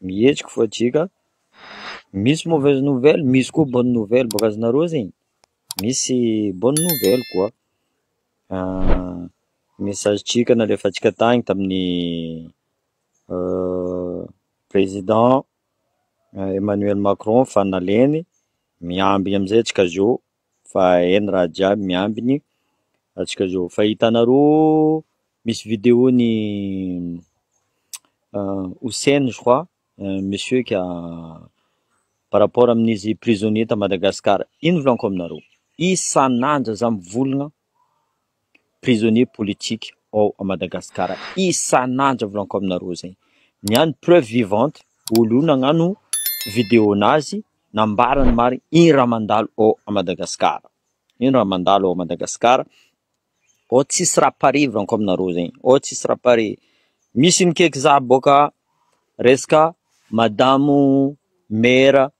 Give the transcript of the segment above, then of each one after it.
Mihetsika fa JK, misy mauvaise nouvelle, misy koa bonne nouvelle bôka azy nareo zegny, misy bonne nouvelle koa, message ntsika nalefantsika tagny tamin'ny président Emmanuel Macron fa naleny, miambigny amizay antsika zao Fa eny raha jiaby miambiny atsika zao. Fa hitanareo misy video ny Houssen je crois monsieur ka par rapport amin'izy prisonniers ta Madagascar, ino volaniko aminareo, isan'andro za mivolagna prisonnier politique ao Madagascar isan'andro aho volaniko aminareo izay ny ahy ny preuve vivante olo io nagnano video nazy nambarany marigny ino raha mandalo ao Madagascar ino raha mandalo ao Madagascar ao tsisy raha pare volaniko aminareo izay ao tsisy raha pare misy ny keky za boka resaka madamo maire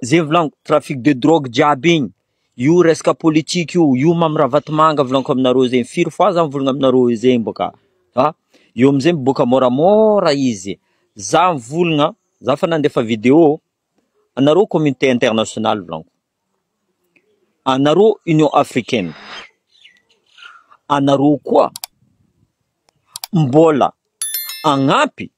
Zay volaniko trafic de drogue jiaby igny, io resaka politika io, io Mamy Ravatomanga volaniko aminareo zegny, firy fois za mivolagna aminareo zegny boka a, fa io amizay miboaka môramôra izy, za mivolagna, za efa nandefa video, anareo communauté internationale volaniko, anareo union africaine, anareo koa mbôla agnampy.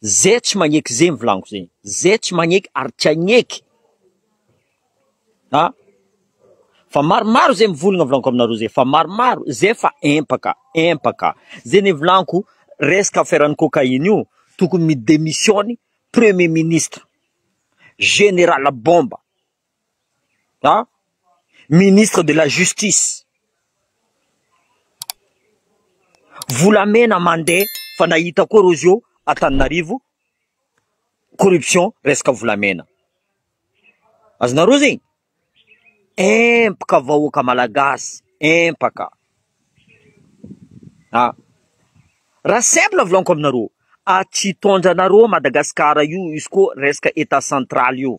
Zay tsy magneky zegny volagniko zegny, zay tsy magneky ary tsy hagneky a, fa maromaro zay mivolagna volagniko aminareo zay fa maromaro, zay efa empaka, empaka, zay ny volagniko resaka affaire ny cocaïne io tokony mi-demissionne premier ministre, général bomba. an! Ministre de la justice, volamena mandeha fa nahita koa reo zio Antananarivo corruption resaka volamena, azonareo zegny? Empaka vahoaka malagasy, empaka an! Raha simple volaniko aminareo, atsitondranareo Madagasikara io izy koa resaka Etat central io.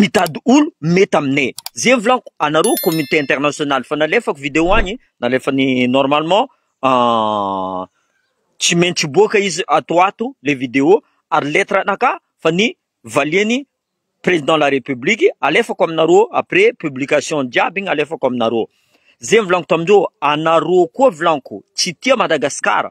Mitady olo mety aminay zay volaniko anareo communauté internationale fa nalefako video any nalefany normalement tsy maintsy hiboaka izy ato ho ato le video ary lettre anaka fa ny valiany président la république alefako aminareo après publication jiaby igny alefako aminareo zay volaniko tamindreo anareo koa volaniko tsy tia Madagasikara.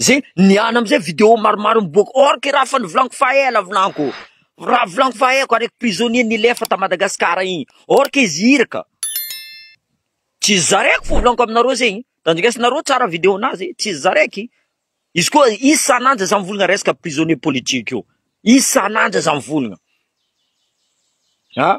Zay niala amizay video maromaro miboaka or que raha efa novolagno fa ela volagno raha volagno fa ela araiky prisonnier nilefa ta Madagascar igny or que izy iraka tsy izy za raiky fô volagno aminareo zegny tandrinesanareo tsara video nazy tsy izy za raiky izy koa isan'anja za mivolagna resaka prisonnier politique io isan'anja za mivolagna ah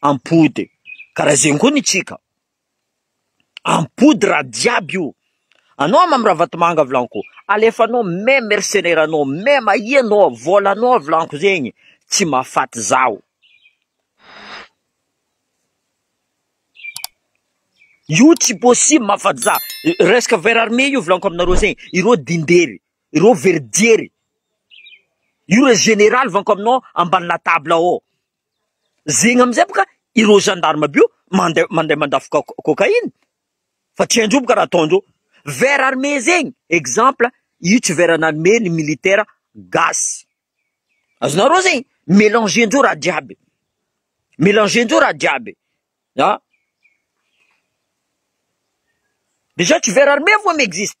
ampody karaha zegny koa ny tsika ampody raha jiaby io anao aho Mamy Ravatomanga vilaniko alefanao me mercenaire anao me mahia anao vola anao vilaniko zegny tsy mahafaty zaho io tsy possible mahafaty za resaka vers armé io vilaniko aminareo zegny ireo dindery ireo very jery io le generaly vilaniko aminao ambany latabla ao zegny amizay boka ireo gendarme bio mande- mandeha mandafo ca- cocaïne fa tsy haindreo boka raha ataondreo vers armée zegny exemple io tsy vers an'armée ny militaire gasy azonareo zegny melangendreo raha jiaby melangendreo raha jiaby ah dejà tsy vers armée vo mi-existe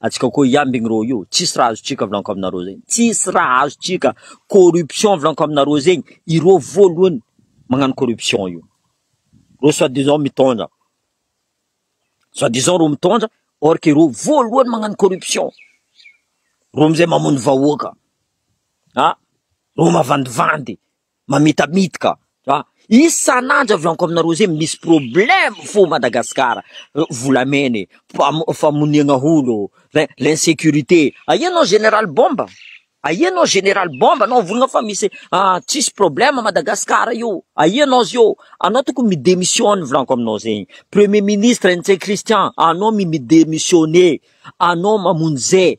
Atsika koa hiambigny rô io, tsisy raha azotsika avlanko aminareo zegny, tsisy raha azotsika, corruption avlanko aminareo zegny, irô voalohany magnano corruption io, rô soit disant mitondra, soit disant rô mitondra, or que rô voalohany magnano corruption, rô amizay mamono vahoaka, ah rô mavandivandy, mamitamitika an! isan'andro avy amiko aminareo zay misy problème fo Madagascar volamena e! famoniana olo e! l'insécurité e! aia anao général bomba aia anao général bomba anao vonona fa misy tsisy problème Madagascar io aia anao zio anao tokony mi démissionne volaniko aminao zegny premier ministre Ntsay Christian anao mi mi démissionne anao mamonjy zay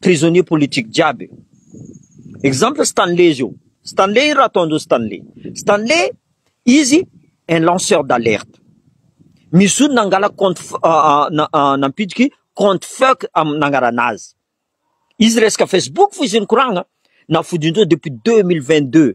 Prisonnier politique jiaby. Exemple Stanley zio. Stanley ino raha ataondreo Stanley. Stanley izy un lanceur d'alerte. Misy zony nangala compte nampidiky compte fuck nangarana azy. Izy resaka Facebook fo izy nikoragna nafodindreo depuis 2022.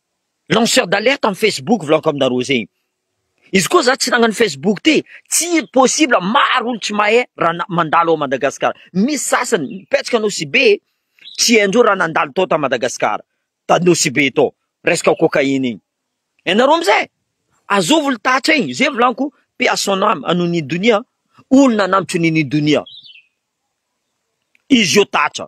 lanceur d'alerte am Facebook volagniko am nareo zay izy koa za tsy nagnano Facebook ty tsy possible maro olo tsy mahay ra mandalo ao Madagascar misy sasany mipetraka Nosy Be tsy haindreo ra nandalo tao ta Madagascar ta Nosy Be tao resaka cocaïne igny ianareo am zay azovy olo tatra igny zay volagniko paix à son ame à Nini Donia olo nanambotry Nini Donia izy io tatra.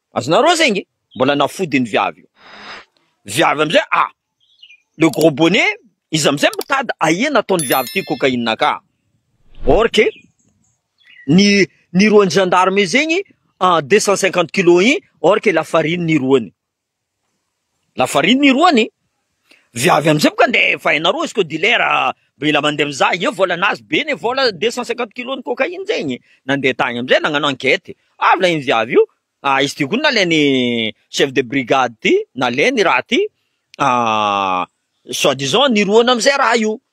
Azonareo zay nge mbola nafody ny viavy io viavy amizay a le gros bonnet izy amizay mitady ahiana ataony viavy ty cocaïne ka or que ny ny roany gendarme zegny deux cent cinquante kilos igny or que lafarine ny roany Lafarine ny roany e! Viavy amizay boka nde vainareo izy ko dealer mila mande mizaha eo vola nazy be ne vola deux cent cinquante kilos ny cocaïne zegny e! Nande tagny amizay nagnano enquête avy la iny viavy io ah izy ty ko nalainy chef de brigade ty nalainy raha ty ah soit disant niroany amizay raha io.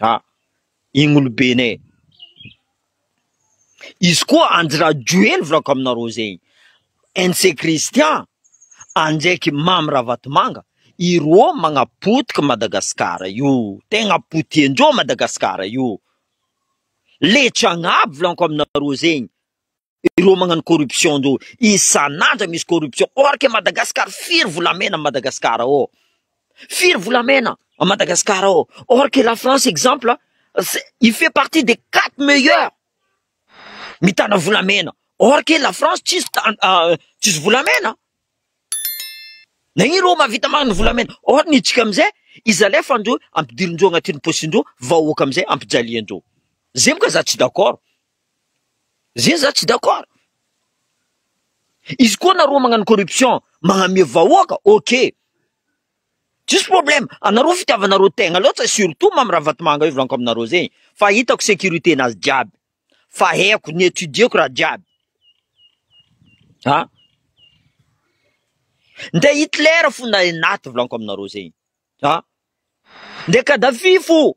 Ah! Igny olobenay, izy koa Andry Rajoely volako aminareo zegny, NC Christian, andraiky Mamy Ravatomanga, ireo magnapotika Madagasikara io, tegna potihin-dreo Madagasikara io, leitsy agnabo volako aminareo zegny. Ireo magnano corruption ndro isan'andro misy corruption or que Madagascar firy volamena à Madagascar ao? Firy volamena à Madagascar ao? Or que la France exemple il fait partie des quatre meilleurs mitana volamena or que la France tsisy tsisy volamena na ino reo mahavita magnano volamena or ny tsika amizay izy alefa ndro ampidirindreo agnatiny posin-dreo vahoaka amizay ampijalian-dreo zay moa ka za tsy d'accord. Zay za tsy d'accord. Izy koa nareo magnano corruption magname vahoaka ok. Tsisy problème, anareo fitiavanareo tegna loatsa surtout Mamy Ravatomanga io volanko aminareo zegny fa hitako sécurité nazy jiaby fa haiko ni étudieko raha jiaby ah. Nde Hitler fo na Enaty volanko aminareo zegny ah. Nde Kadhafi fo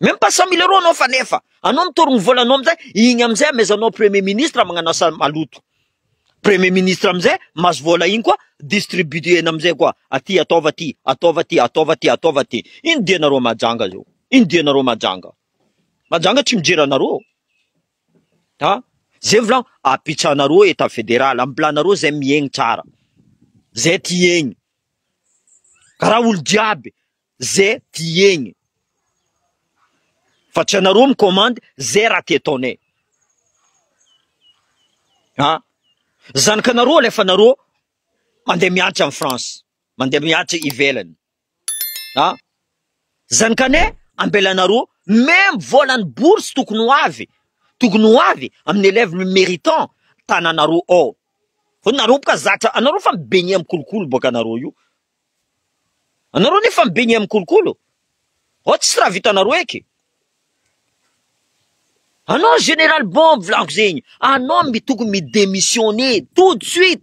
Même pas cent mille euros anao fa nefa anao mitory ny volanao amin'izay, iny amin'izay amezanao premier ministre magnano asa maloto. Premier ministre amin'izay mahazo vola iny koa distribuena amin'izay koa, aty ataova aty, ataova aty, ataova aty, ataova aty. Ino dianareo majanga zao? Ino dianareo majanga? Majanga tsy mijery anareo ô. Ha? Zay volagno, apitsahanareo etat federal, ambilanareo zay miaigny tsara, zay ty hiaigny. Raha olo jiaby ze tiegny fa tsy anareo mi commande ze raha tiataonay a zanakanareo alefa anareo mande mianatra any France mande mianatra ivelany a. Zany kane ambelanareo meme volany bourse tokony ho avy tokony ho avy aminy elève le meritant tananareo ao fa nareo boka zatra anareo fa mibegne am kolokolo boka nareo io anareo nefa mibegne am kolokolo ao tsisy raha vitanareo eky anao general bon volako zegny anao mi tokony mi demissionne tout de suite.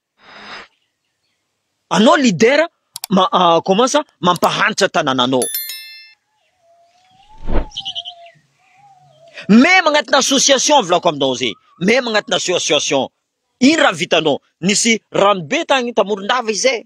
Anao leader commence mampahantra tanananao. Même agnatina association volako aminao zay même agnatina association ino raha vitanao nisy ranobe tany tamorondava izay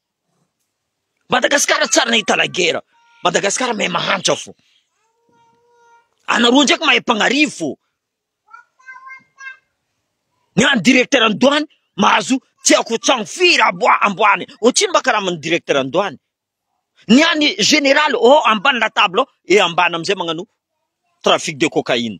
Madagasikara tsary nahita la guerre, Madagasikara mahay mahantra fo, anareo ndraiky mahay mpanarivo fo, ny any directeur ny douane mahazo tsy aiko trano firy amboa amboany otrino mba karaman'ny directeur ny douane, ny any général oh ambany la table oh et ambany amizay magnano trafic de cocaïne.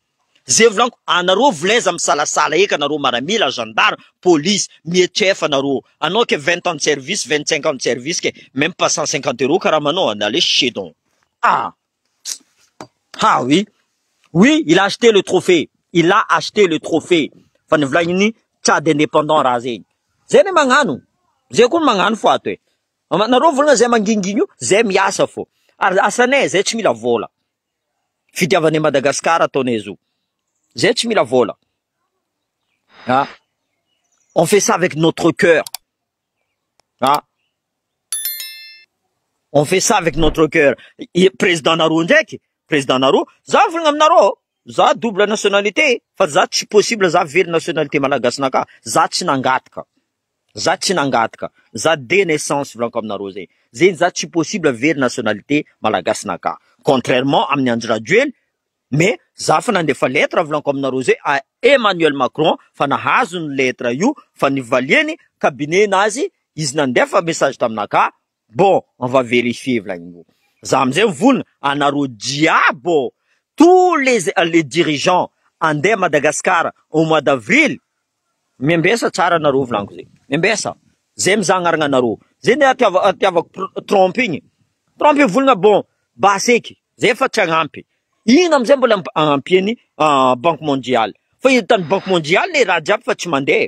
Ze volagno anareo volaiza misalasala eka nareo maramila gendarme police mie chef nareo anao ke vingt ans de service vingt cinq ans de service ke meme pas cent cinquante euro karamanao en aller chez donc ah ha oui oui il a acheter le trophée il a acheter le trophée fa ny volagniny tchad independant raha zegny zay ny magnano zay koa ny magnano fo ato e nareo volagna zay mangingigno zay miasa fo ary asanay zay tsy mila vola Fitiavana i Madagascar ataonay zo. Zay tsy mila vola. Ha? On fait ça avec notre cœur. Ha? On fait ça avec notre cœur. I président nareo ndraiky, président nareo, za volagna aminareo, za double nationalité fa za tsy possible za very nationalité malagasy naka, za tsy nangataka. Za tsy nangataka, za de naissance volanko aminareo zay, zegny za tsy possible very nationalité malagasy naka, contrairement amin'ny Andry Rajoely, mais za fa nandefa lettre volanko aminareo zay à Emmanuel Macron fa nahazo ny lettre io fa nivaliany cabinet nazy izy nandefa message taminaka Bon on va verifier Vlaimbo za amizay mivona anareo jiaby ô tous les les dirigeants andeha Madagascar au mois d'avril miambesa tsara anareo volaniko zay miambesa zay mizagnargna anareo zay nde atiavako Trump igny Trump mivona bon basy eky zay efa tsy agnampy igny amizay mbola ampiany banque mondiale fa hitany banque mondiale le raha jiaby fa tsy mandeha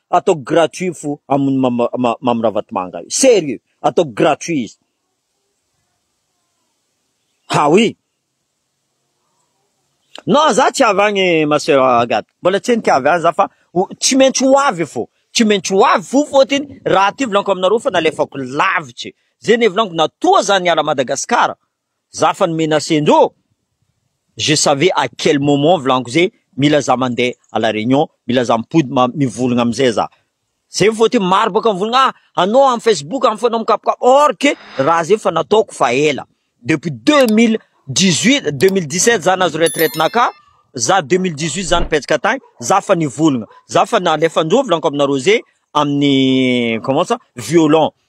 Ataoko gratuit fo aminy Mamy Ravatomanga io. Serieux. Ataoko gratuit izy. Ha oui. Non za tsy avy agny ma soeur Agathe. Mbola tsy henoko avy any za fa tsy maintsy ho avy fo. Tsy maintsy ho avy fo fôtiny raha ty volaniko aminareo fa nalefako lavitry ze ny hevilaniko na toa za niala Madagasikara Za fa ni-menacer ndrô, je savais à quel moment volaniko hoe mila za mandeha à la réunion, mila za mipody ma mivolagna amizay za. Zay vao te maro bôka mivolagna ah anô am Facebook am fanao mikapokapok or que raha zay fa nataoko fa ela depuis deux mille dix huit, deux mille dix sept za nahazo retraite naka, za deux mille dix huit za nipetraka tagny, za fa nivolagna, za fa nalefa ndrô volaniko aminarô zay aminy comment ça violon.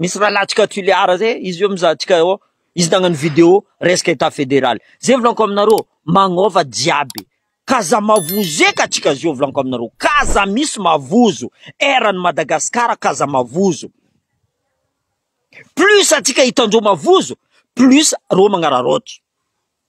Misy rahalahintsika Tuléar zay, izy io mizaha antsika eo, izy nagnano vidéo resaka Etat fédéral. Zay volanko aminareo, magnova jiaby, k'aza mavozo eka antsika zio volanko aminareo, k'aza misy mavozo, eran'i Madagascar k'aza mavozo. Plus antsika hitan-dreo mavozo, plus reo magnararaotra.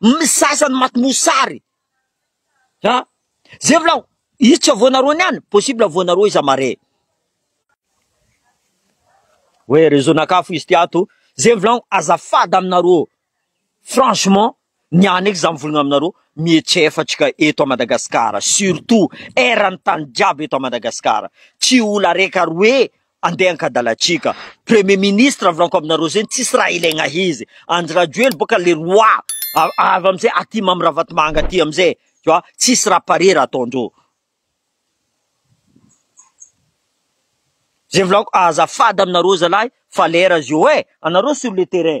Misasa ny maty mosary. Ha? Zay vla izy tsy avoanareo niany, possible avoanareo iza mare. Hoe réseau nakafo izy ty ato, zay vla azafady aminareo. Franchement, niany eky za mivolagna aminareo, mietsefa atsika eto à Madagascar, surtout eran'ny tany jiaby eto à Madagascar. Tsy ola reka roe Andeha ankadalatsika. Premier ministre avy lanko aminareo zegny tsisy raha ilaigna izy. Andry Rajoely boka le roi avy amizay aty Mamy Ravatomanga aty amizay tu vois tsisy raha pare raha ataondreo. Zay volako azafady aminareo zalahy fa lera zio eh! Anareo sur le terrain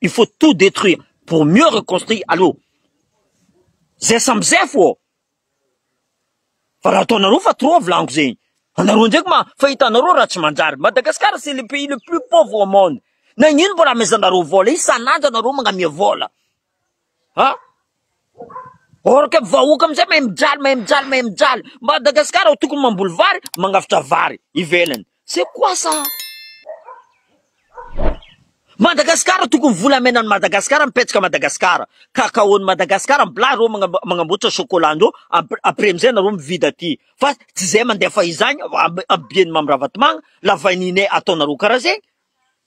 Il faut tout detruire pour mieux reconstruire aloha zay samy zefo ô! Fa raha ataonareo fa trop volagno zegny, anareo ndraiky ma fa hitanareo raha tsy manjary, Madagascar c'est le pays le plus pauvre au monde, nagnino mbola amezanareo vola, isan'andro anareo magnamia vola. Ha! Or que vahoaka amizay mahay mijaly, mahay mijaly, mahay mijaly. Madagascar ao tokony mamboly vary, magnavotra vary ivelany. C'est quoi ça? Madagascar tokony volamena any Madagascar mipetraka Madagascar. Cacao ny Madagascar ambola reo magnamboatra chocolat ndreo après amizay nareo mividy aty. Fa tsy zay mandefa izagny am am bien Mamy Ravatomanga la vanille ataonareo kara zegny.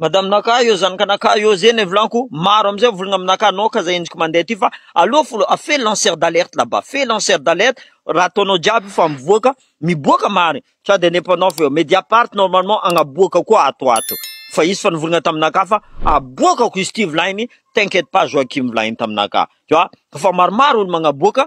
Madame Naka eo zanaka Naka eo zay ny vlanko maro amizay mivolagna am Naka anao ka zay endriko mandeha ty fa aleo folo a fais lancer d'alerte là bas fais lancer d'alerte raha ataonao jiaby io fa mivoaka miboaka marigny ça de indépendant feo mediapart normalement agnaboaka koa ato ato fa izy fa nivolagna tam Naka fa aboakako izy ty volaigny t'inquiète pas Joachim volaigny tam Naka tu vois fa maromaro olo magnaboaka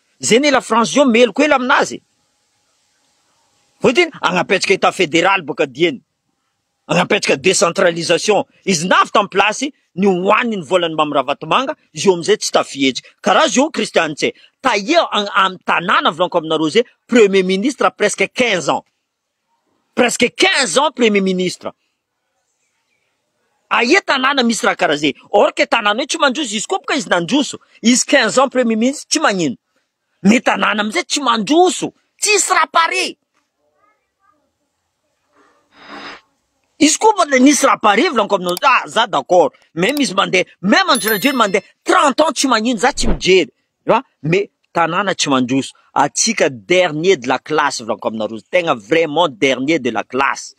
Zay ne la France zao meloka ela aminazy e. Hoe ty agnapetraka état fédéral boka dieny. Agnapetraka décentralisation. Izy navy tam place ny hoaniny ny volan'ny Mamy Ravatomanga, izy eo amizay tsy tafihetsika. Karaha zao Christian Tse, tahia am tanàna volanko aminareo zay, premier ministre presque quinze ans. presque quinze ans premier ministre aia tanàna misy raha karaha zay or que tanàna io tsy mandroso izy koa boka izy nandroso izy quinze ans premier ministre tsy magnino ny tanàna amizay tsy mandroso tsisy raha pare izy koa mba le nisy raha pare volaniko aminao ah za d'accord même izy mandeha même Andry Rajoelina mandeha trente ans tsy magnino za tsy mijery Fa mais tanàna tsy mandroso. Antsika dernier de la classe Vlanko amina rojo tegna vraiment dernier de la classe.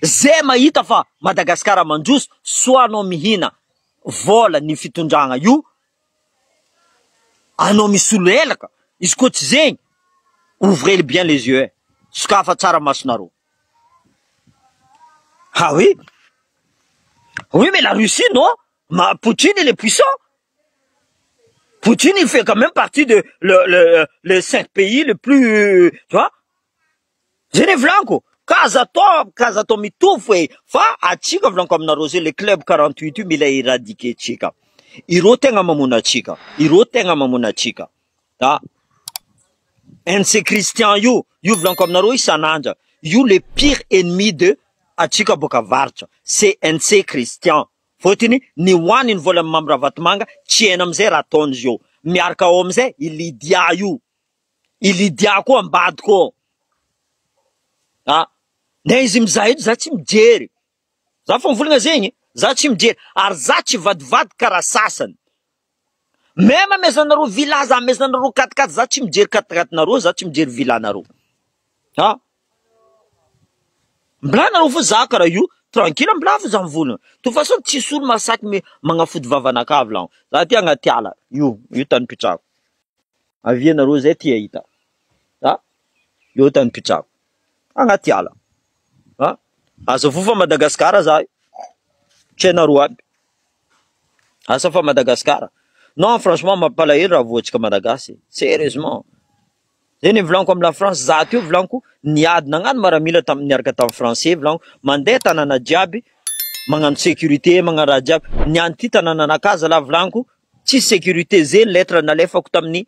Zay mahita fa Madagascar mandroso soit anao mihina vola ny fitondragna io anao misolo helaka izy koa tsy zegny ouvrez bien les yeux sokafa tsara masonareo ha oui oui mais la Russie non Ma Poutine il est puissant. Poutine il fait quand même partie de le le le cinq pays le plus euh, tu vois. Zay ny volako. Ka aza atao ka aza atao mitovy hoe fa atsika volanko aminareo zay le club 48 io mila éradiquer tsika. Ireo tegna mamono atsika. Ireo tegna mamono atsika. Ah. NC Christian io, io volanko aminareo isan'andra. Io le pire ennemi de atsika boaka avaratra. CNC Christian. Fotiny ny hoany ny volan'i Mamy Ravatomanga tsy hena amizay raha ataony izy eo. Miarka ao amizay i Lydia io. I Lydia koa ambadiko ao. A! Na izy mizaha eto za tsy mijery. Za fa mivolagna zegny e. Za tsy mijery. Ary za tsy vadivadika karaha sasany. Même mes anareo villa za mes anareo quatre quatre za tsy mijery quatre quatre nareo za tsy mijery villa nareo a mbola nareo fo za karaha io tranquille mbola fo za mivola toute façon tsisy olo mahasaky me magnafody vavanakavy laho za ty agnaty ala io io tany pitrako avia nareo zay ty ahita a eo tany pitrako agnaty ala a aza voa fa Madagasikara za io tsy hainareo aby Asa fa Madagascar. Non franchement mampalahelo raha voatsika Malagasy e. Serieusement. Zay ny volaniko am la France za teo volaniko niady nagnano maramila tam niaraka tam français volaniko mandeha tanana jiaby magnano sécurité magnano raha jiaby ny anty tanananakahy zalahy volaniko tsisy sécurité ze lettre nalefako taminy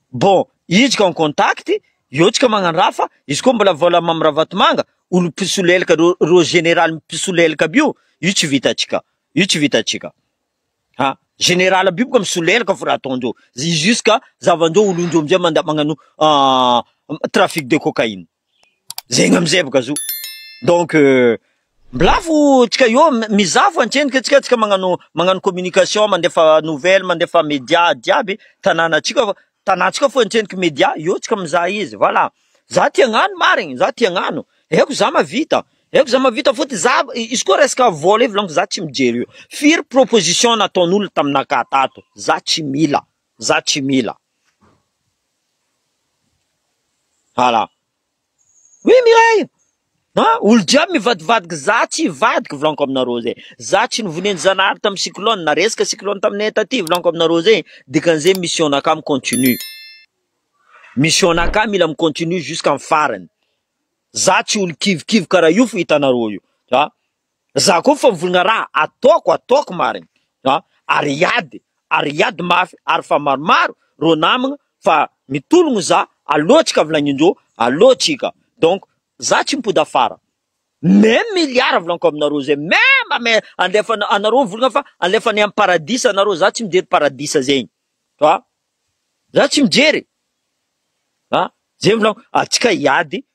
Bon, izy ka en contact, eo tsika magnandraha fa izy koa mbola vola Mamy Ravatomanga, olo mpisolelaka reo, reo général mpisolelaka aby io, io tsy vitantsika, io tsy vitantsika an! Général aby io boka misolelaka fa raha ataondreo, izy io ska zavan-dreo olon-dreo amizay manda magnano trafic de cocaïne. Zegny amizay boka zo donc mblafo tsika eo mizaha fo antrenika tsika tsika magnano magnano communication mandefa nouvelle mandefa media jiaby tanana tsika fa tana tsika fo antrenika media eo tsika mizaha izy voila za ty agnano marigny za ty agnano eko za mavita eko za mavita fo ty za izy koa resaka vola io volaniko za tsy mijery io firy proposition nataon'olo taminakahy tato za tsy mila. Za tsy mila. Ala. Oui Mireille! A! Olo jiaby mivadivadiky za tsy hivadika volaniko aminareo zay. Za tsy nivonen'i Zanahary tamin'ny cyclone, na resaka cyclone taminay taty volaniko aminareo zay e, dikan'izay mission naka mi-continue. Mission naka mila mi-continue jusqu'à ny farany. Za tsy olo kivikivy karaha io fo hitanareo io. A! Za koa fa mivolagna raha ataoko ataoko marigny a ary hiady ary hiady mafy ary fa maromaro reo namagna fa mitologno za alô tsika volagnindreo alô tsika donc za tsy mipody afara meme milliard volagniko aminareo zay meme ame alefa anareo mivolagna fa alefa any amy paradisa anareo za tsy mijery paradisa zegny fa za tsy mijery a zay volagniko atsika hiady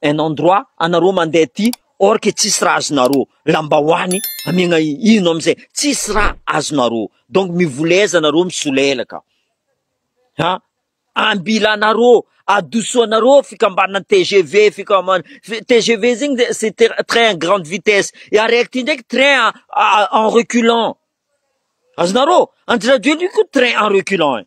un endroit anareo mandeha aty or que tsisy raha azonareo, lambahoany amiagna ino amizay, tsisy raha azonareo, donc mivoleza nareo misolelaka an, ambilanareo, adosoanareo fikambanana tgv, fikambanana tgv zegny de c'est train à grande vitesse, araiky ty ndraiky train en reculant, azonareo, Andry Rajoelina io koa train en reculant.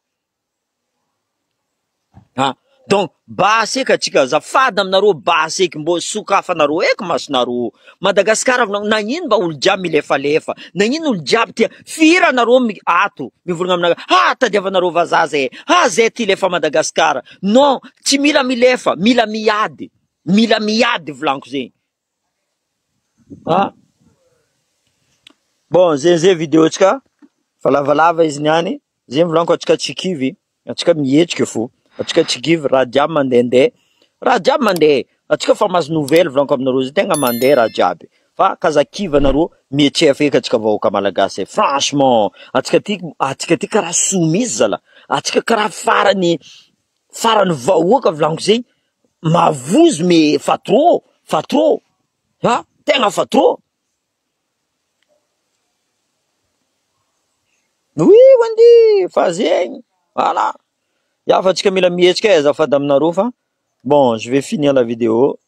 Ah donc basy eka tsika azafady aminareo basy eky mbô sokafy anareo eky masonareo Madagascar nagnino mba olo jiaby milefalefa nagnino olo jiaby tia fihira anareo mi- ato mivolagna aminareo ha tadiavanareo vazaha zay ha zay ty lefa Madagascar non tsy mila milefa mila miady mila miady volagno zegny Ah. Bon, zay zay vidéo-tsika fa lavalava izy niany, zay volaniko atsika tsy kivy, atsika mihetsika fo, atsika tsy kivy raha jiaby mandehandeha, raha jiaby mandeha, atsika fa mahazo nouvelle volaniko aminareo zay, tegna mandeha raha jiaby fa ka za kivy anareo mihetseha feky atsika vahoaka malagasy e, franchement, atsika ty atsika ty karaha soa mintsy zala, atsika karaha farany farany vahoaka volaniko zay. Mavozo me fa trop fa trop a tegna fa trop oui wendy fa zegny voilà ya fa tsika mila mihetsika e azafady aminareo fa bon je vais finir la video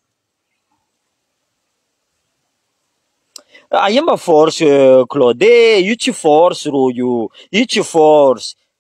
aia mba force Claude e, io tsy force rô io, io tsy force.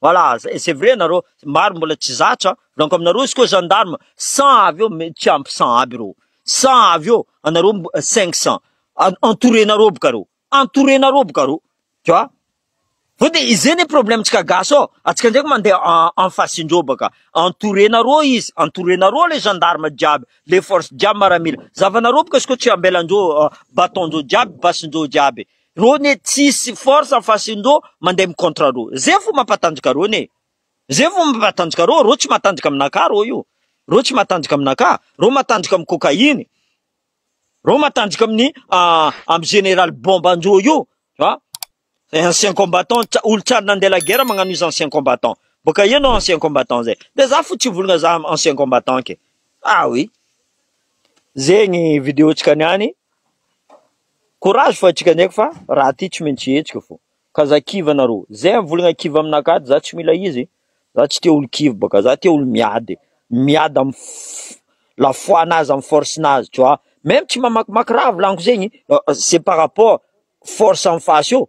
Voilà, zay, c'est vrai nareo, maro mbola tsy zatra, volaniko aminareo, izy koa gendarme, cent avy eo, me- tsy ampy cent aby reo, cent avy eo, anareo mbo- cinq cent, En- entourenareo boka reo, entourenareo boka reo, tu vois, Fa de izay ne problème-tsika gasy ao, antsika ndraiky mandeha en- en face-ndreo baka, entourenareo izy, entourenareo le gendarme jiaby, le force jiaby maramila, zavanareo boka izy koa tsy ambelandreo, euh, bâton-ndreo jiaby, base-ndreo jiaby, Reo ne tsisy force fa sindro mandeha mi contre reo zay fo mapatanjaka reo ne zay fo mapatanjaka reo reo tsy matanjaka aminakahy reo io reo tsy matanjaka aminakahy reo matanjaka am cocaine reo matanjaka aminy am general bomba anjo io a ancien combattant tsa olo tsary nandeha la guerre magnano izy ancien combattant boka eo no ancien combattant zay de za fo tsy volagna za ancien combattant ke ah oui zegny video tsika niany Courage fa atsika ndreky fa raha ty tsy maintsy hetsika fô ka za kivy anareo zay mivolagna kivy aminakahy de za tsy mila izy za tsy tia olo kivy bôka za tia olo miady miady am f- la foi nazy am force nazy tu vois meme tsy mamakimaky raha volagno zegny c'est par rapport force en face io.